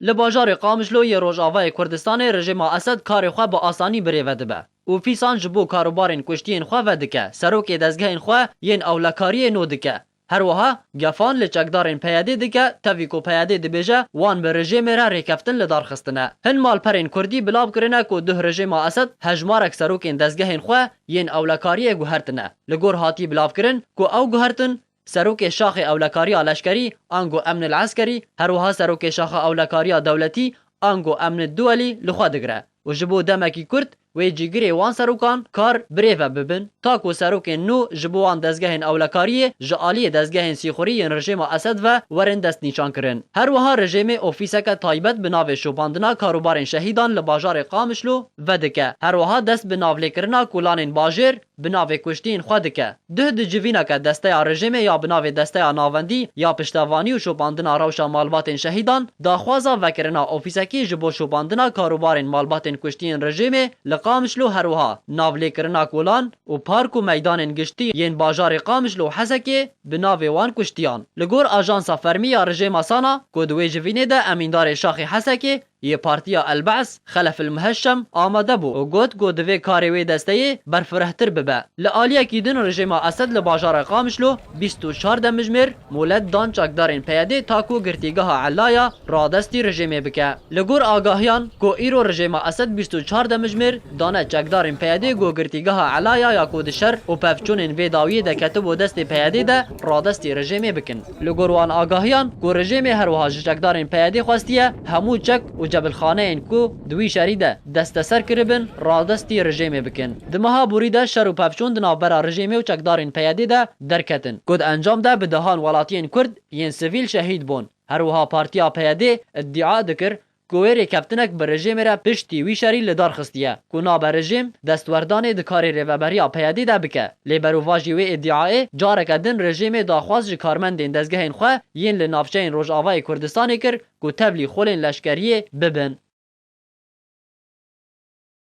Li bajarê Qamishloyê Rojavayê Kurdistanê rejîma Esed karê xwe bi asanî birêve dibe û fîsan ji bo karûbarên kuştiyên xwe vedike, serokê dezgehên xwe yên ewlekariyê no dike. Herwiha gefan li çekdarên PYD'ê dike, tevî ku PYD dibêje wan bi rejêmê re rêkeftin li dar xistine. Hin malperên Kurdî belav kirine ku duh rejêma Esed hejmarek serokên dezgehên xwe yên ewlekariyê guhertine. Li gor hatî bilavkirin ku ew guhertin Serokê Şaxê Ewlekariya Leşkerî, ango Emn el Eskerî, her wiha Serokê Şaxa Ewlekariya Dewletî, ango Emn el Duwelî li xwe digire û ji bo demekî kurt wê cîgirê wan serokan kar birêve bibin ta ku serokên nû ji bo wan dezgehên ewlekariyê ji aliyê dezgehên sîxurî yên rejêma Esed ve werin destnîşankirin. Her wiha rejêmê ofîseke taybet bi navê Şopandina Karûbarên Şehîdan li bajarê Qamişlo vedike, her wiha dest bi navlêkirina kolanên bajêr, bi navê kuştîn xwe dike. Duh di civîna ke desteya rejêmê ya bi navê Desteya Navendî ya Piştevanî û Şopandina Rewşa Malbatên Şehîdan daxwaza vekirina ofîsekî ji bo şopandina karûbarên malbatên kuştiyên rejêmê li Qamişlo herwiha navlêkirina kolan û park û meydanên giştî yên bajarê Qamişlo û Hesekê bi navê wan kuştiyan. Li gor ajansa fermî ya rejêma Sana ku di wê civînê de emîndarê şaxê Hesekê Yê Partiya El-Ba's, Xelef El-Muheşem amade bû û got ku divê karê wê desteyê berfirehtir bibe. Li aliyekî din rejîma Esed li bajarê Qamişlo bîst û çar demijimêr molet dan çekdarên PYD'ê ta ku girtîgeha Ellaya radestî rejîmê bike. Li gor agahiyan ku îro rejîma Esed bîst û çar demijimêr dane çekdarên PYD'ê ku girtîgeha Ellaya ya ku di şer û pevçûnên vê dawiyê de ketibû destê PYD'ê de radestî rejîmê bikin. Li gor wan agahiyan ku rejîmê her wiha ji çekdarên PYD'ê xwestiye hemû çek û cebilxaneyên ku di wî şerî de desteser kiribin radestî rejîmê bikin. Di meha borî de şer û pevçûn di navbera rejîmê û çekdarên PYD'ê de derketin ku di encam de bi dehan welatiyên Kurd yên sivîl şehîd bûn. Her wiha partiya PYD'ê îdîa dikir ku wê rêkeftinek bi rejêmê re piştî wî şerî li dar xistiye ku nabe rejêm destwerdanê di karê rêveberiya PYD'ê de bike. Lê berovajî wê îdiayê careke din rejêmê daxwaz ji karmendên dezgehên xwe yên li navçeyên Rojavayê Kurdistanê kir ku tevlî xulên leşkeriyê bibin.